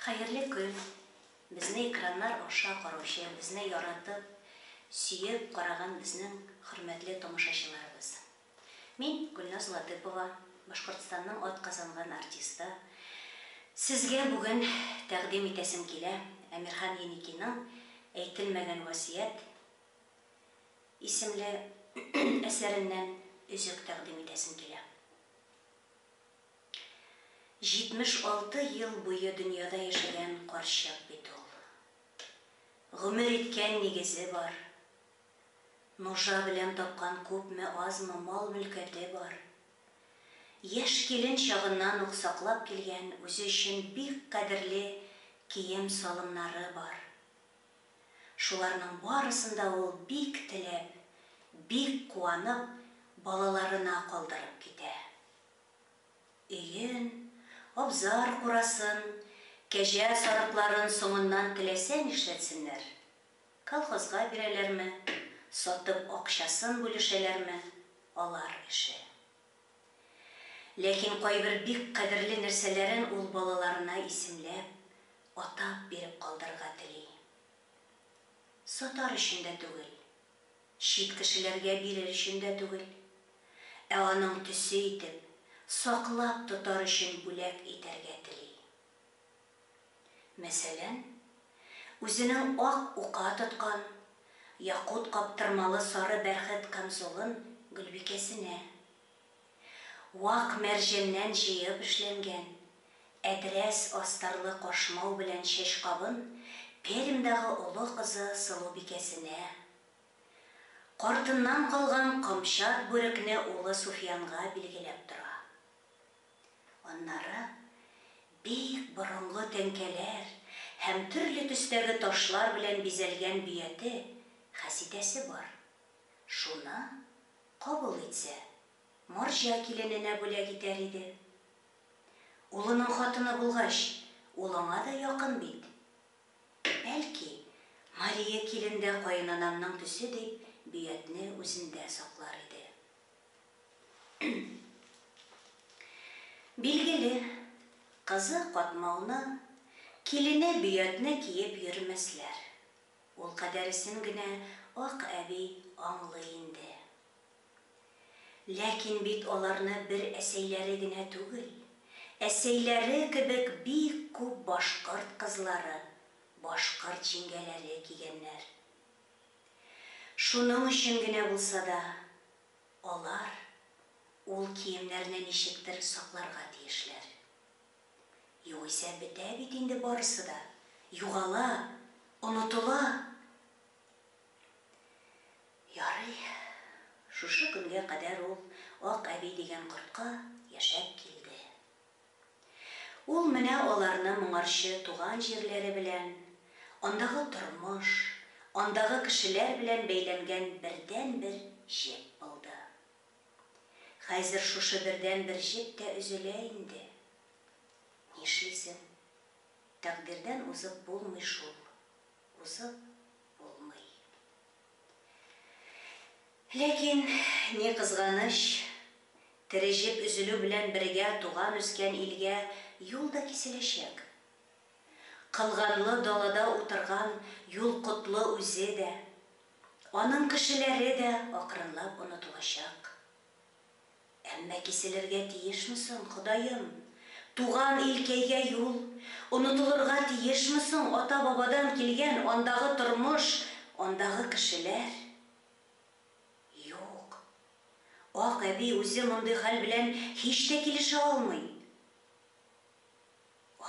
Хәерле көн! Безне экраннар аша караучы, безне яратып, сөеп караган безнең хөрмәтле тамашачыларыбыз! Мин, Гөлназ Латыпова, Башкортстанның атказанган артисты. Сезгә бүген тәкъдим итәсем килә Әмирхан Еникиның Әйтелмәгән васыять исемле әсәреннән өзек тәкъдим итәсем килә. 76 ел буе дөньяда яшәгән карчык бит ул. Гомер иткән нигезе бар. Нужа белән тапкан күпме-азмы мал-мөлкәте бар. Яшь килен чагыннан ук саклап килгән үзе өчен бик кадерле кием-салымнары бар. Шуларның барысын да ул бик теләп, бик куанып, балаларына калдырып китә. Өен, абзар-курасын, кәҗә сарыкларын соңыннан теләсә нишләтсеннәр. Колхозга бирәләрме, сатып акчасын бүлешәләрме, алар эше. Ләкин кайбер бик кадерле нәрсәләрен ул балаларына исемләп, атап биреп калдырырга тели. Сатар өчен дә түгел, Чит кешеләргә бирер өчен дә түгел, ә аның төсе итеп, саклап тотар өчен бүләк итәргә тели. Мәсәлән, үзенең ак ука тоткан, якут каптырмалы сары бәрхет камзулын Гөлбикәсенә. Вак мәрҗәннән җыеп эшләнгән, әдрәс астарлы кашмау белән чәч кабын Пермьдагы олы кызы Сылубикәсенә, картыннан калган камчат бүрекне улы Суфиянга билгеләп тора. Аннары бик борынгы тәңкәләр һәм төрле төстәге ташлар белән бизәлгән бөяте хәситәсе бар, шуны Кабул итсә, марҗа килененә бүләк итәр иде. Улының хатыны булгач, ул аңа да якын бит. Бәлки, Мария килен дә каенанамның төсе дип Бөятне үзендә саклар иде. Билгеле, кызы Катмауны, килене Бөятне киеп йөрмәсләр. Ул кадәресен генә Ак әби аңлый инде. Ләкин бит аларны бер әсәйләре генә түгел, әсәйләре кебек бик күп башкорт кызлары, башкорт җиңгәләре кигәннәр. Шуның өчен генә булса да, алар ул киемнәрне ничектер сакларга тиешләр. Югыйсә бетә бит инде барысы да, югала, онытыла. Ярый, шушы көнгә кадәр ул Ак әби дигән кортка яшәп килде. Ул менә аларны моңарчы туган җирләре белән, андагы тормыш, андагы кешеләр белән бәйләнгән бердәнбер җеп булды. Хәзер шушы бердәнбер җеп тә өзелә инде. Нишлисең, тәкъдирдән узып булмый шул, узып булмый. Ләкин, ни кызганыч, тере җеп өзелү белән бергә туган-үскән илгә юл да киселәчәк. Кылганлы далада утырган юл котлы үзе дә, Аның кешеләре дә акрынлап онытылачак. Әмма киселергә тиешме соң, Ходаем? Туган илкәйгә юл онытылырга тиешме соң, ата-бабадан килгән андагы тормыш, андагы кешеләр? Юк. Ак әби үзе мондый хәл белән һич тә килешә алмый.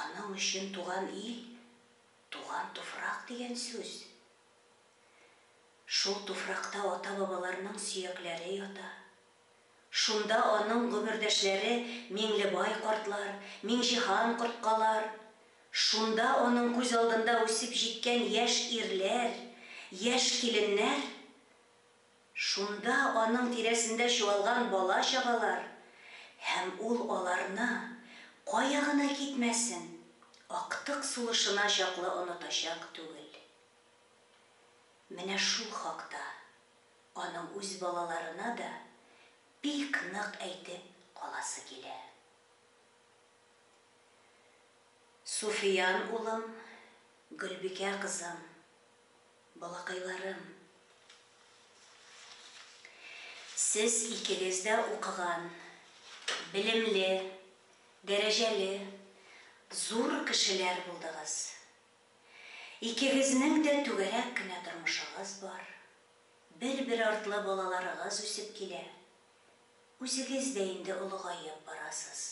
Аның өчен туган ил, туган туфрак дигән сүз Шул туфракта ата-бабаларның сөякләре ята. Шунда аның гомердәшләре Миңлебай картлар, Миңҗиһан корткалар, шунда аның күз алдында үсеп җиткән яшь ирләр, яшь киленнәр, шунда аның тирәсендә чуалган бала-чагалар һәм ул аларны, кая гына китмәсен, актык сулышына чаклы онытачак түгел. Менә шул хакта аның үз балаларына да бик нык әйтеп каласы килә. Суфиян улым, Гөлбикә кызым, балакайларым! Сез икегез дә укыган, белемле, дәрәҗәле, зур кешеләр булдыгыз. Икегезнең дә түгәрәк кенә тормышыгыз бар, бер-бер артлы балаларыгыз үсеп килә, үзегез дә инде олыгаеп барасыз.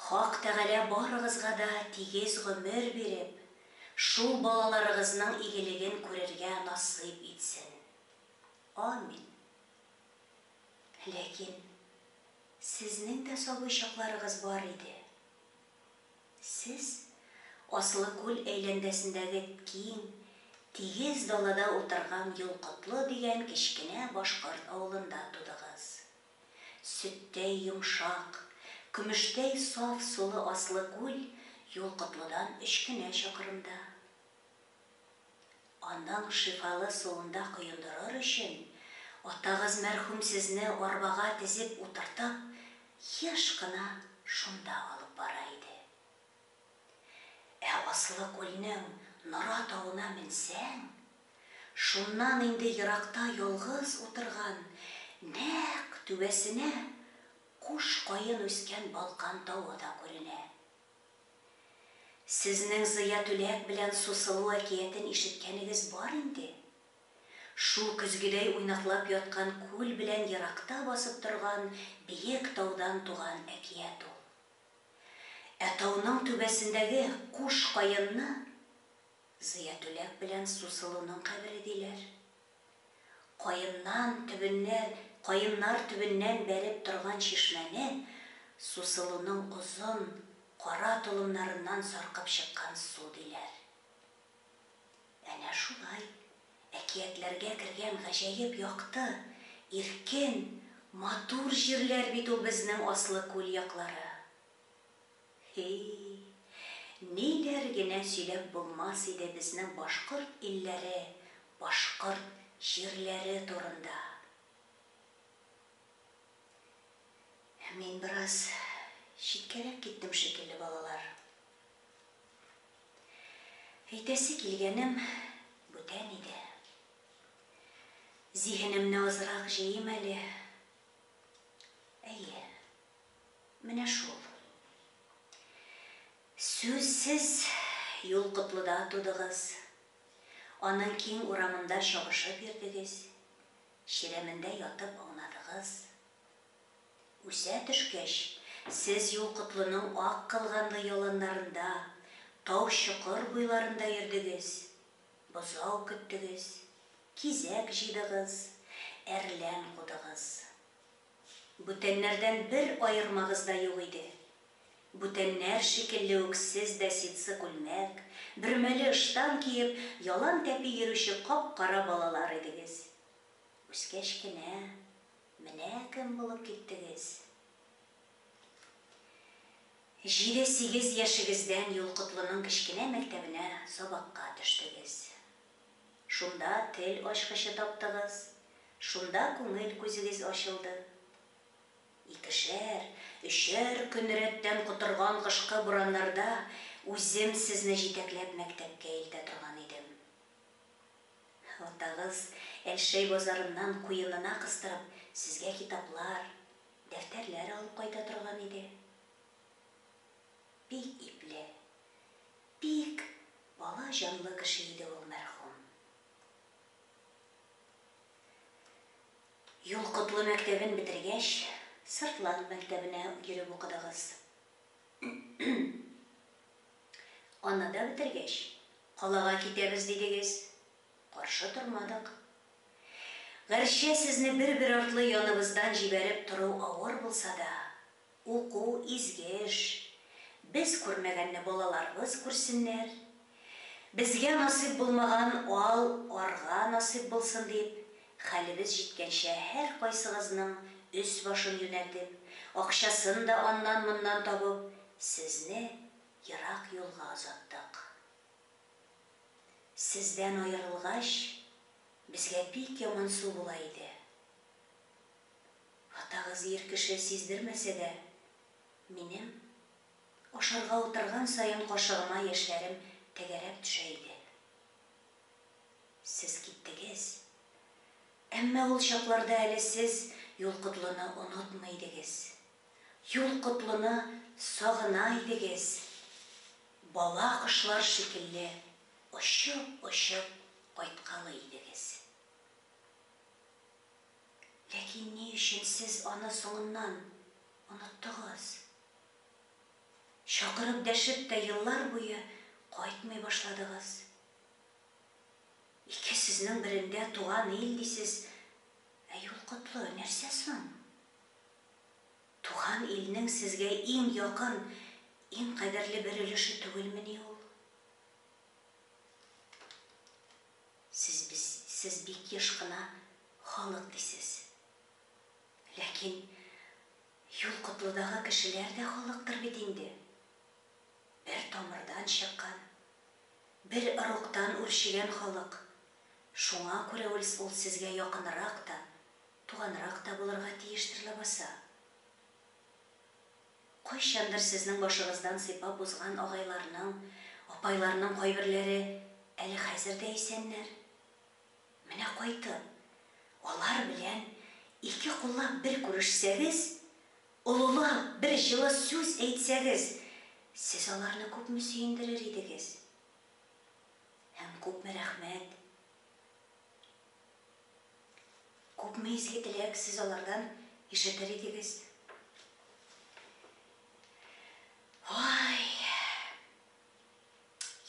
Хак Тәгалә барыгызга да тигез гомер биреп, шул балаларыгызның игелеген күрергә насыйп итсен. Амин. Ләкин сезнең дә сабый чакларыгыз бар иде. Сез Аслы күл әйләнгәсендәге киң, тигез далада утырган Юлкотлы дигән кечкенә башкорт авылында тудыгыз. Сөттәй йомшак, көмештәй саф сулы Аслы күл Юлкотлыдан өч кенә чакрымда. Аның шифалы суында коендырыр өчен, атагыз мәрхүм сезне арбага тезеп утыртып, еш кына шунда алып бара иде. Ә Аслы күлнең Нора тавына менсәң, шуннан инде еракта ялгыз утырган, нәкъ түбәсенә куш каен үскән Балкан тавы да күренә. Сезнең Зыя Түләк белән Сусылу әкиятен ишеткәнегез бар инде? Шул көзгедәй уйнаклап яткан күл белән еракта басып торган биек таудан туган әкият ул. Ә тауның түбәсендәге куш каенны Зыя Түләк белән Сусылуның кабере диләр. Каеннан төбеннәр каеннар төбеннән бәреп торган чишмәне сусылуның озын, кара толымнарыннан саркып чыккан су диләр. Әнә шулай, әкиятләргә кергән гаҗәеп якты, иркен, матур җирләр бит ул безнең Аслы күл яклары. Һи, ниләр генә сөйләп булмас иде безнең башкорт илләре, башкорт җирләре турында. Мин бераз читкәрәк киттем шикелле, балалар. Әйтәсе килгәнем бүтән иде. Зиһенемне азрак җыйыйм әле. Әйе. Менә шул. Сүзсез юл Котлыда тудыгыз, аның киң урамында чабышып йөрдегез, чирәмендә ятып аунадыгыз. Үсә төшкәч, сез юл Котлының ак кылганлы яланнарында, тау-чокыр буйларында йөрдегез, бозау көттегез, кизәк җыйдыгыз, әрлән кудыгыз. Бүтәннәрдән бер аермагыз да юк иде. Бүтәннәр шикелле үк сез дә ситсы күлмәк, бөрмәле ыштан киеп, ялан тәпи йөрүче кап-кара балалар идегез. Үскәч кенә менә кем булып киттегез. Җиде-сигез яшегездән Юлкотлының кечкенә мәктәбенә сабакка төштегез. Шунда тел ачкычы таптыгыз, шунда күңел күзегез ачылды. Икешәр, өчәр көн рәттән котырган кышкы бураннарда үзем сезне җитәкләп мәктәпкә илтә торган идем. Атагыз Әлшәй базарыннан куенына кыстырып сезгә китаплар, дәфтәрләр алып кайта торган иде. Бик ипле, бик бала җанлы кеше иде ул мәрхүм. Юлкотлы мәктәбен бетергәч, Сыртлан мәктәбенә йөреп укыдыгыз. Аны да бетергәч, калага китәбез дидегез. Каршы тормадык. Гәрчә сезне бер-бер артлы яныбыздан җибәреп тору авыр булса да, Уку, изге эш. Без күрмәгәнне балаларыбыз күрсеннәр. Безгә насыйп булмаган ал арга насыйп булсын дип, хәлебез җиткәнчә һәркайсыгызның өс-башын юнәтеп, акчасын да аннан-моннан табып, сезне ерак юлга озаттык. Сездән аерылгач, безгә бик ямансу була иде. Хатагыз ир кеше сиздермәсә дә, минем, ашарга утырган саен кашыгыма яшьләрем тәгәрәп төшә иде. Сез киттегез. Әмма ул чакларда әле сез Юл котлыны онытмый идегез. Юл котлыны сагына идегез. Бала кошлар шикелле очып-очып кайткалы идегез. Ләкин ни өчен сез аны соңыннан оныттыгыз? Чакырып дәшеп тә еллар буе кайтмый башладыгыз. Ике сүзнең берендә туган ил дисез, ә юл котлы, нәрсә соң? Туган илнең сезгә иң якын, иң кадерле бер өлеше түгелмени ул? Сез без, сез бик еш кына халык дисез. Ләкин Юл Котлыдагы кешеләр дә халыктыр бит инде. Бер тамырдан чыккан, бер ыруктан үрчегән халык. Шуңа күрә үлс ул сезгә якынрак та, туганрак та булырга тиештер ләбаса. Кайчандыр сезнең башыгыздан сыйпап узган агайларның, апайларның кайберләре әле хәзер дә исәннәр. Менә кайтып, алар белән ике куллап бер күрешсәгез, олылап бер җылы сүз әйтсәгез, сез аларны күпме сөендерер идегез? Һәм күпме рәхмәт Күпме изге теләк сез алардан ишетер идегез. Ой!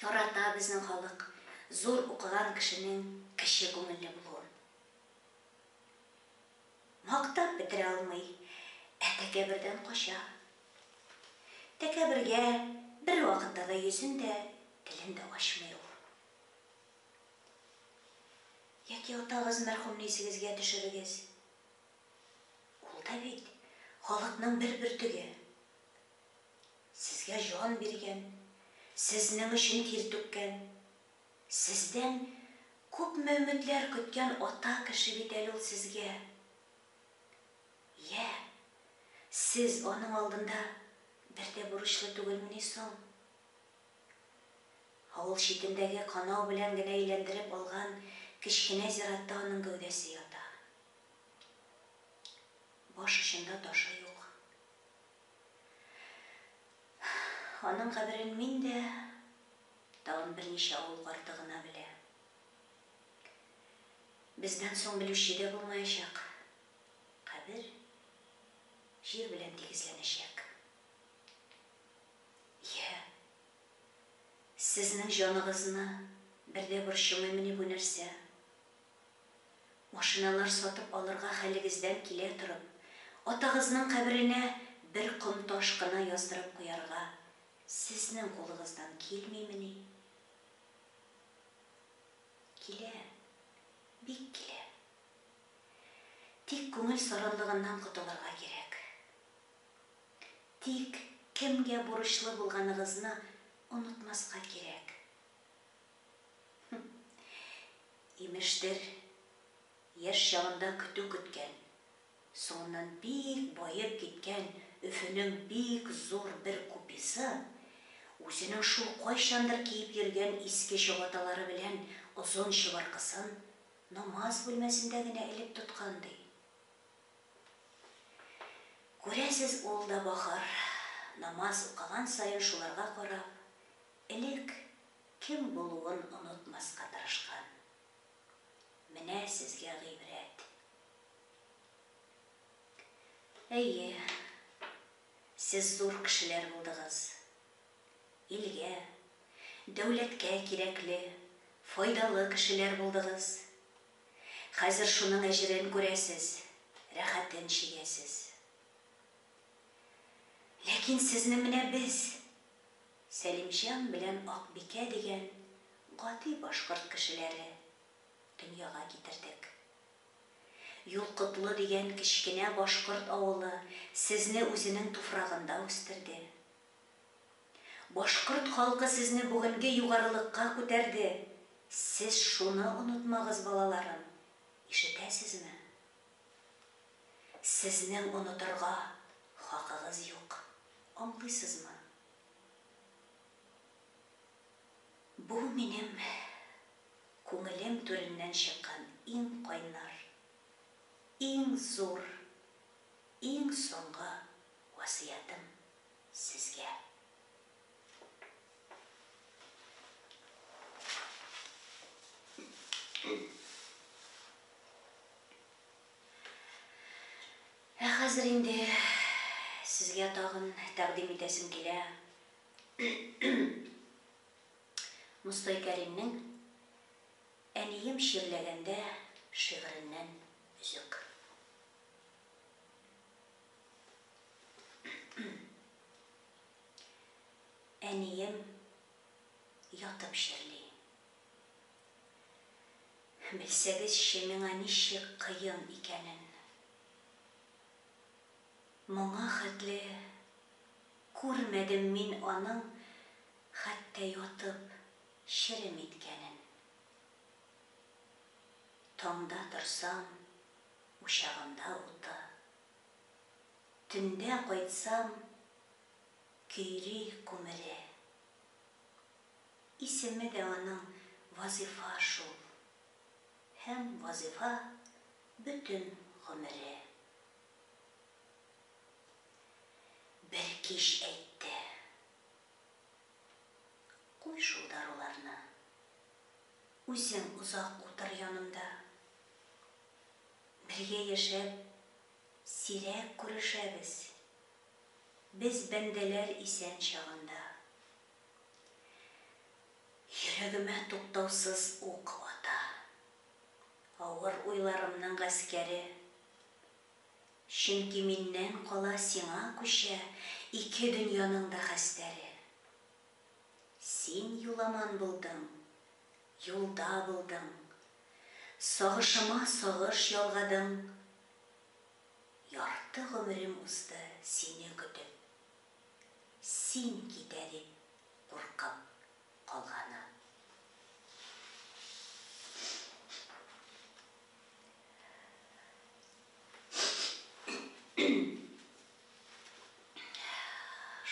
Ярата безнең халык зур укыган кешенең кече күңелле булуын. Мактап бетерә алмый, ә тәкәбердән кача. Тәкәбергә бервакытта да йөзен дә, телен дә ачмый ул. Яки атагыз мәрхүмне исегезгә төшерегез. Ул да бит халыкның бер бөртеге. Сезгә җан биргән, сезнең өчен тир түккән, сездән күпме өметләр көткән ата кеше бит әле ул сезгә. Йә, сез аның алдында бер дә бурычлы түгелмени соң? Авыл читендәге канау белән генә әйләндереп алган кечкенә зиратта аның гәүдәсе ята. Баш очында ташы юк. Аның каберен мин дә, тагын берничә авыл карты гына белә. Бездән соң белүче дә булмаячак. Кабер җир белән тигезләнәчәк. Йә. Сезнең җаныгызны бер дә борчымыймыни бу нәрсә? Машиналар сатып алырга хәлегездән килә торып, атагызның каберенә бер ком таш кына яздырып куярга сезнең кулыгыздан килмимени? Килә, бик килә. Тик күңел саранлыгыннан котылырга кирәк. Тик кемгә бурычлы булганыгызны онытмаска кирәк. Хм. Имештер, яшь чагында көтү көткән, соңыннан бик баеп киткән Өфөнең бик зур бер купесы үзенең шул кайчандыр киеп йөргән иске чабаталары белән озын чыбыркысын намаз бүлмәсендә генә элеп тоткан ди. Күрәсез, ул да бахыр, намаз укыган саен шуларга карап, элек кем булуын онытмаска тырышкан. Менә сезгә гыйбрәт. Әйе, сез зур кешеләр булдыгыз. Илгә, дәүләткә кирәкле, файдалы кешеләр булдыгыз. Хәзер шуның әҗерен күрәсез, рәхәтен чигәсез. Ләкин сезне менә без, Сәлимҗан белән Акбикә дигән гади башкорт кешеләре, дөньяга китердек. Юлкотлы дигән кечкенә башкорт авылы сезне үзенең туфрагында үстерде. Башкорт халкы сезне бүгенге югарылыкка күтәрде, сез шуны онытмагыз, балаларым, ишетәсезме? Сезнең онытырга хакыгыз юк, аңлыйсызмы? Бу минем күңелем түреннән чыккан иң кайнар, иң зур, иң соңгы васыятым. сезгә. Ә хәзер инде сезгә тагын тәкъдим итәсем килә. Мостай Кәримнең Әнием чирләгәндә шигыреннән өзек. Әнием ятып чирли. Белсәгезче, миңа ничек кыен икәнен. Моңа хәтле күрмәдем мин аның хәтта ятып черем иткәнен. Таңда торсам, Учагында уты. Төндә кайтсам, көйри күмере. Исеме дә аның Вазифа шул. Һәм Вазифа бөтен гомере. Бер кич әйтте. Куй шул даруларны. Үзең озак утыр янымда. Бергә яшәп, сирәк күрешәбез. Без бәндәләр исән чагында. Йөрәгемә туктаусыз ук ата. Авыр уйларымның гаскәре. Чөнки миннән кала сиңа күчә Ике дөньяның да хәстәре. Син юламан булдың. Юлда булдың. Сагышыма сагыш ялгадың. Ярты гомерем узды сине көтеп. Син китә дип куркып калганым.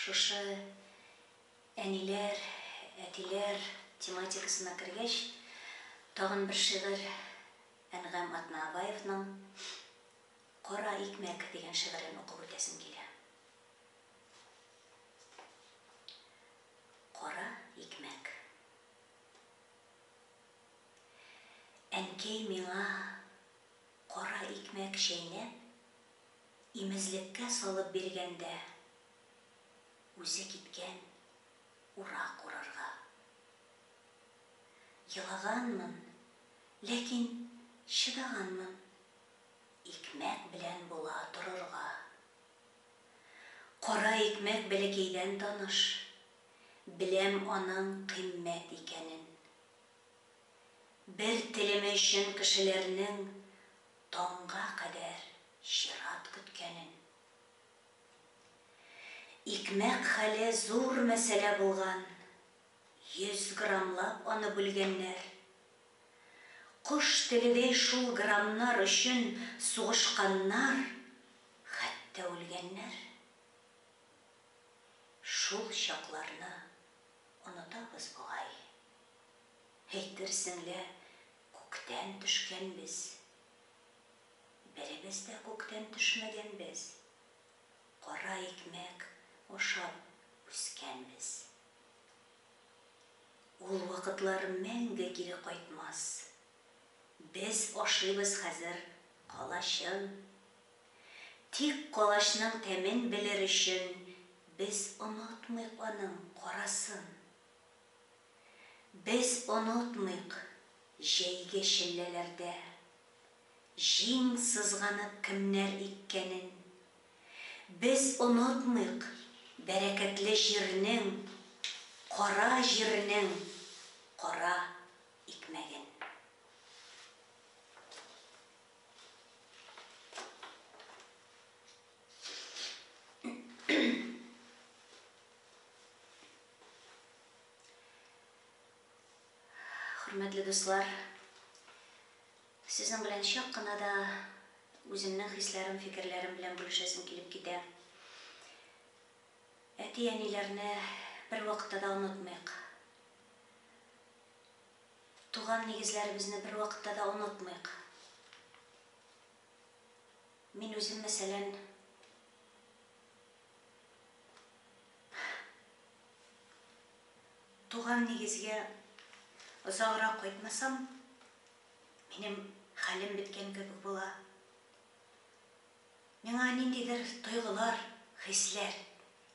Шушы Әниләр, әтиләр тематикасына кергәч, тагын бер шигырь Әнгам Атнаабаевның Кара икмәк дигән шигырен укып үтәсем килә. Кара икмәк. Әнкәй миңа кара икмәк чәйнәп, имезлеккә салып биргәндә, Үзе киткән урак урарга. Елаганмын, ләкин чыдаганмын. Икмәк белән була торырга. Кара икмәк бәләкәйдән таныш. Беләм аның кыйммәт икәнен. Бер телеме өчен кешеләрнең таңга кадәр чират көткәнен. Икмәк хәле зур мәсьәлә булган, 100 граммлап аны бүлгәннәр. Кош теледәй шул граммнар өчен сугышканнар, хәтта үлгәннәр. Шул чакларны онытабыз бугай. Әйтерсең лә күктән төшкәнбез. Беребез дә күктән төшмәгәнбез. Кара икмәк ашап үскәнбез. Ул вакытлар мәңге кире кайтмас. Без ашыйбыз хәзер калачын. Тик калачның тәмен белер өчен без онытмыйк аның карасын. Без онытмыйк җәйге челләләрдә Җиң сызганып кемнәр иккәнен. Без онытмыйк бәрәкәтле җирнең, Кара җирнең кара икмәген. Хөрмәтле дуслар, сезнең белән чак кына да үземнең хисләрем, фикерләрем белән бүлешәсем килеп китә. Әти-әниләрне бер вакытта да онытмыйк. Туган нигезләребезне бер вакытта да онытмыйк. Мин үзем, мәсәлән, Туган нигезгә озаграк кайтмасам, минем хәлем беткән кебек була. Миңа ниндидер тойгылар, хисләр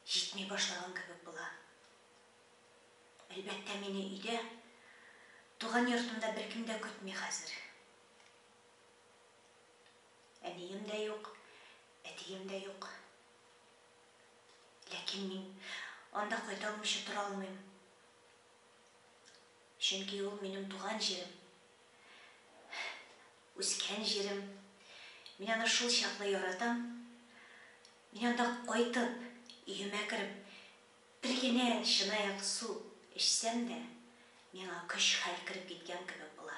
җитми башлаган кебек була. Әлбәттә, мине өйдә, туган йортымда беркем дә көтми хәзер. Әнием дә юк, әтием дә юк. Ләкин мин анда кайта алмыйча тора алмыйм. Чөнки ул минем туган җирем. Үскән җирем. Мин аны шул чаклы яратам. Мин анда кайтып, өемә кереп, бер генә чынаяк су эчсәм дә, миңа көч-хәл кереп киткән кебек була.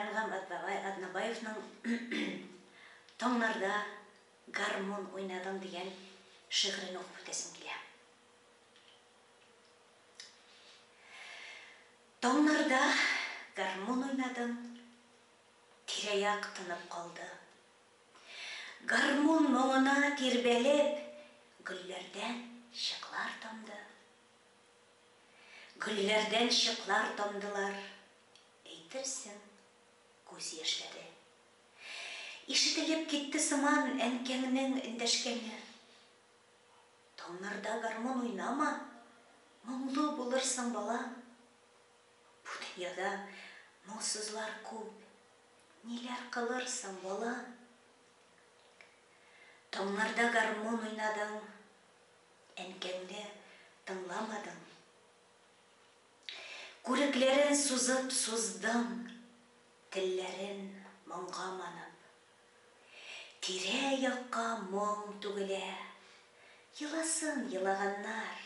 Әнгам Атбабай Атнабаевның Таңнарда гармун уйнадың дигән шигырен укып үтәсем килә. Таңнарда гармун уйнадың, тирә-як тынып калды. Гармун моңына тирбәлеп, гөлләрдән чыклар тамды. Гөлләрдән чыклар тамдылар. Әйтерсең, күз яшьләре. Ишетелеп китте сыман әнкәңнең эндәшкәне. Таңнарда гармун уйнама, моңлы булырсың, балам. Бу дөньяда моңсызлар күп, ниләр кылырсың, балам. Таңнарда гармун уйнадың, әнкәңне тыңламадың. Күрекләрен сузып суздым, телләрен моңга манып. Тирә-якка моң түгелә, еласын елаганнар.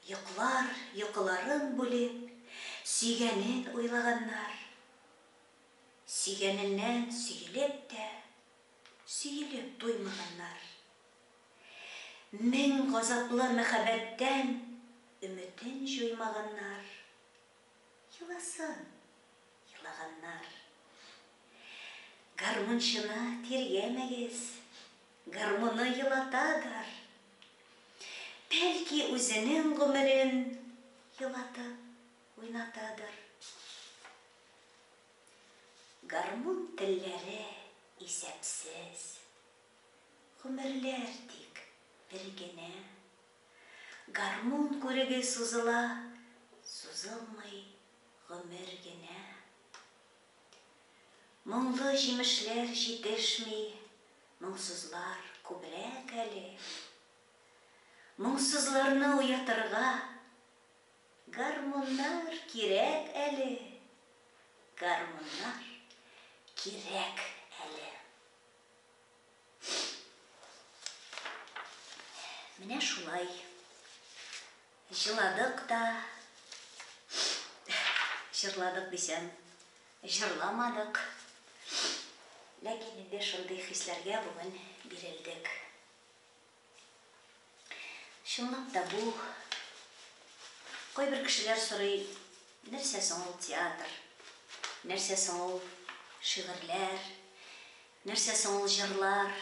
Йоклар йокыларын бүлеп, сөйгәнен уйлаганнар. Сөйгәненнән сөелеп тә, сөелеп туймаганнар. Мең газаплы мәхәббәттән өметен җуймаганнар, еласын елаганнар. Гармунчыны тиргәмәгез, гармуны елатадыр. Бәлки үзенең гомерен елатып уйнатадыр. Гармун телләре исәпсез, Гомерләр тик бер генә. Гармун күреге сузыла, Сузылмый гомер генә. Моңлы җимешләр җитешми, Моңсызлар күбрәк әле. Моңсызларны уятырга, Гармуннар кирәк әле, Гармуннар кирәк әле. Менә шулай. Җыладык та, җырладык дисәм, җырламадык. Ләкин инде шундый хисләргә бүген бирелдек. Чынлап та бу, кайбер кешеләр сорый, нәрсә соң ул театр, нәрсә соң ул шигырьләр, нәрсә соң ул җырлар?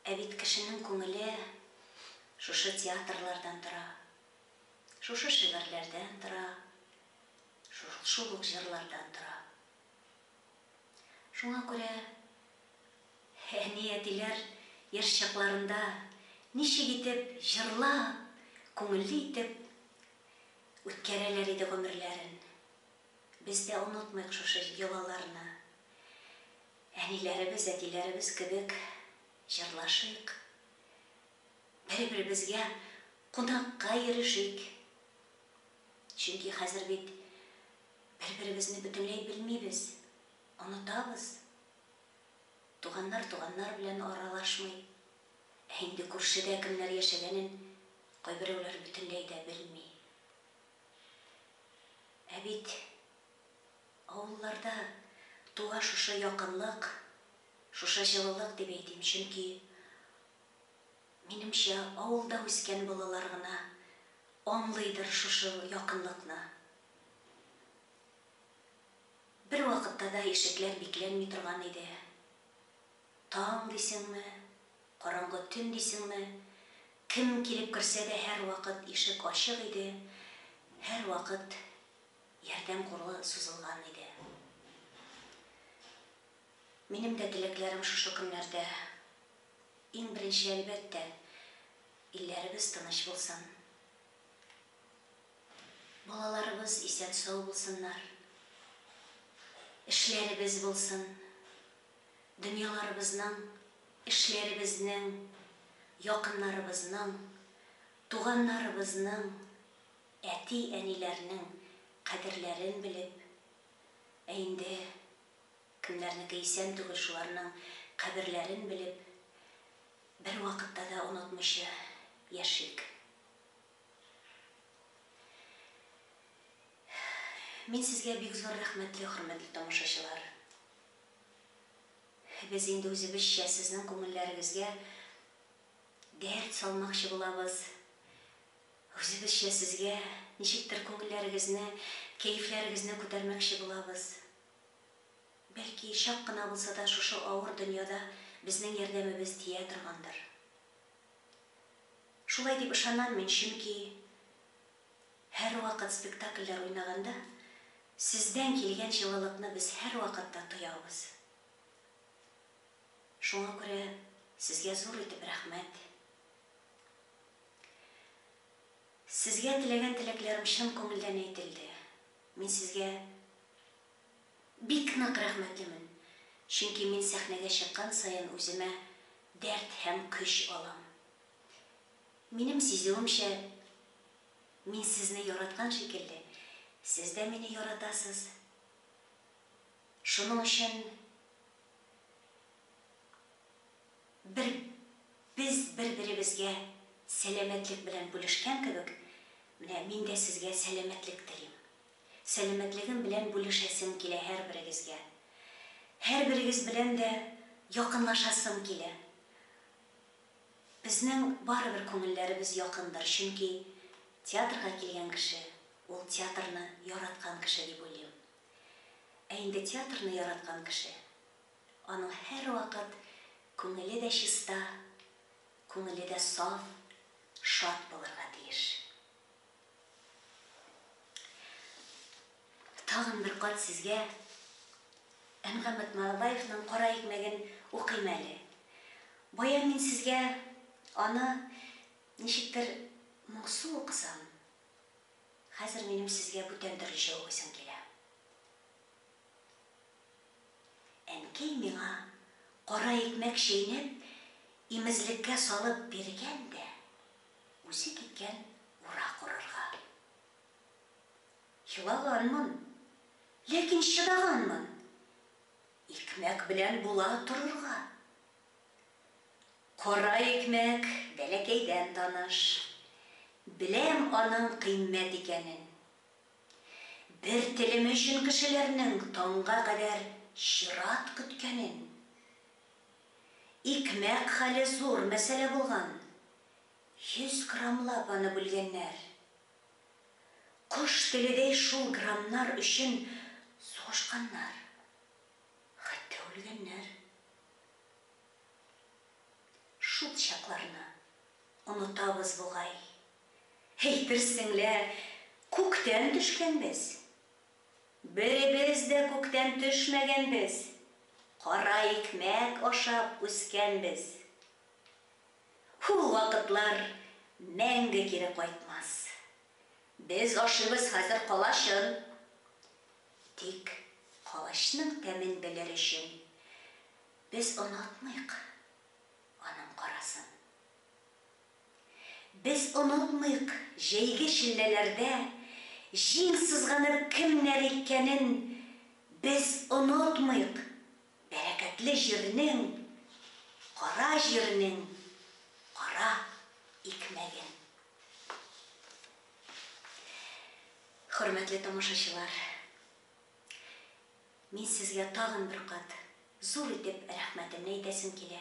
Ә бит кешенең күңеле шушы театрлардан тора, шушы шигырьләрдән тора, шул ук җырлардан тора. Шуңа күрә әни-әтиләр яшь чакларында ничек итеп җырлап, күңелле итеп үткәрәләр иде гомерләрен. Без дә онытмыйк шушы йолаларны. Әниләребез, әтиләребез кебек җырлашыйк, бер-беребезгә кунакка йөрешик. Чөнки хәзер бит Бер-беребезне бөтенләй белмибез, онытабыз. Туганнар туганнар белән аралашмый. Ә инде күршедә кемнәр яшәгәнен кайберәүләр бөтенләй дә белми. Ә бит авылларда туа шушы якынлык, шушы җылылык дип әйтим, чөнки, минемчә, авылда үскән балалар гына аңлыйдыр шушы якынлыкны. Бер вакытта да ишекләр бикләнми торган иде. Таң дисеңме, караңгы төн дисеңме, кем килеп керсә дә һәрвакыт ишек ачык иде, һәрвакыт ярдәм кулы сузылган иде. Минем дә теләкләрем шушы көннәрдә, иң беренче, әлбәттә, илләребез тыныч булсын. Балаларыбыз исән-сау булсыннар, эшләребез булсын, дөньяларыбызның, эшләребезнең, якыннарыбызның, туганнарыбызның, әти-әниләрнең кадерләрен белеп, ә инде кемнәрнеке исән түгел, шуларның каберләрен белеп, бервакытта да онытмыйча яшик. Мин сезгә бик зур рәхмәтле, хөрмәтле тамашачылар! Без инде үзебезчә сезнең күңелләрегезгә дәрт салмакчы булабыз, үзебезчә сезгә ничектер күңелләрегезне, кәефләрегезне күтәрмәкче булабыз. Бәлки, чак кына булса да шушы авыр дөньяда безнең ярдәмебез тия торгандыр. Шулай дип ышанам мин, чөнки һәрвакыт спектакльләр уйнаганда сездән килгән җылылыкны без һәрвакытта тоябыз. Шуңа күрә сезгә зур итеп рәхмәт. Сезгә теләгән теләкләрем чын күңелдән әйтелде. Мин сезгә Бик нык рәхмәтлемен, чөнки мин сәхнәгә чыккан саен үземә дәрт һәм көч алам. Минем сизүемчә, мин сезне яраткан шикелле, сез дә мине яратасыз. Шуның өчен бер без бер-беребезгә сәламәтлек белән бүлешкән кебек, менә мин дә сезгә сәламәтлек телим. сәламәтлегем белән бүлешәсем килә һәрберегезгә. Һәрберегез белән дә якынлашасым килә. Безнең барыбер күңелләребез якындыр, чөнки театрга килгән кеше, ул театрны яраткан кеше дип уйлыйм. Ә инде театрны яраткан кеше, аның һәрвакыт күңеле дә чиста, күңеле дә саф, шат булырга тиеш. Тагын бер кат сезгә Әнгамәт Малабаевның Кара икмәген укыйм әле. Бая мин сезгә аны ничектер моңсу укысам, хәзер минем сезгә бүтән төрлечә укыйсым килә. Әнкәй миңа кара икмәк чәйнәп, имезлеккә салып биргән дә. Үсе киткән ура корырга. Елаганмын, ләкин чыдаганмын. Икмәк белән була торырга. Кара икмәк бәләкәйдән таныш. Беләм аның кыйммәт икәнен. Бер телем өчен кешеләрнең таңга кадәр чират көткәнен. Икмәк хәле зур мәсьәлә булган. Йөз граммлап аны бүлгәннәр. Кош теледәй шул граммнар өчен сугышканнар. Хәтта үлгәннәр. Шул чакларны онытабыз бугай. Әйтерсең лә, күктән төшкәнбез. Беребез дә күктән төшмәгәнбез, кара икмәк ашап үскәнбез. Ул вакытлар мәңге кире кайтмас. Без ашыйбыз хәзер калачын. Тик калачның тәмен белер өчен без онытмыйк аның карасын. Без онытмыйк, җәйге челләләрдә Җиң сызганып кемнәр иккәнен Без онытмыйк, бәрәкәтле җирнең, Кара җирнең кара икмәген. Хөрмәтле тамашачылар! Мин сезгә тагын бер кат зур итеп рәхмәтемне әйтәсем килә.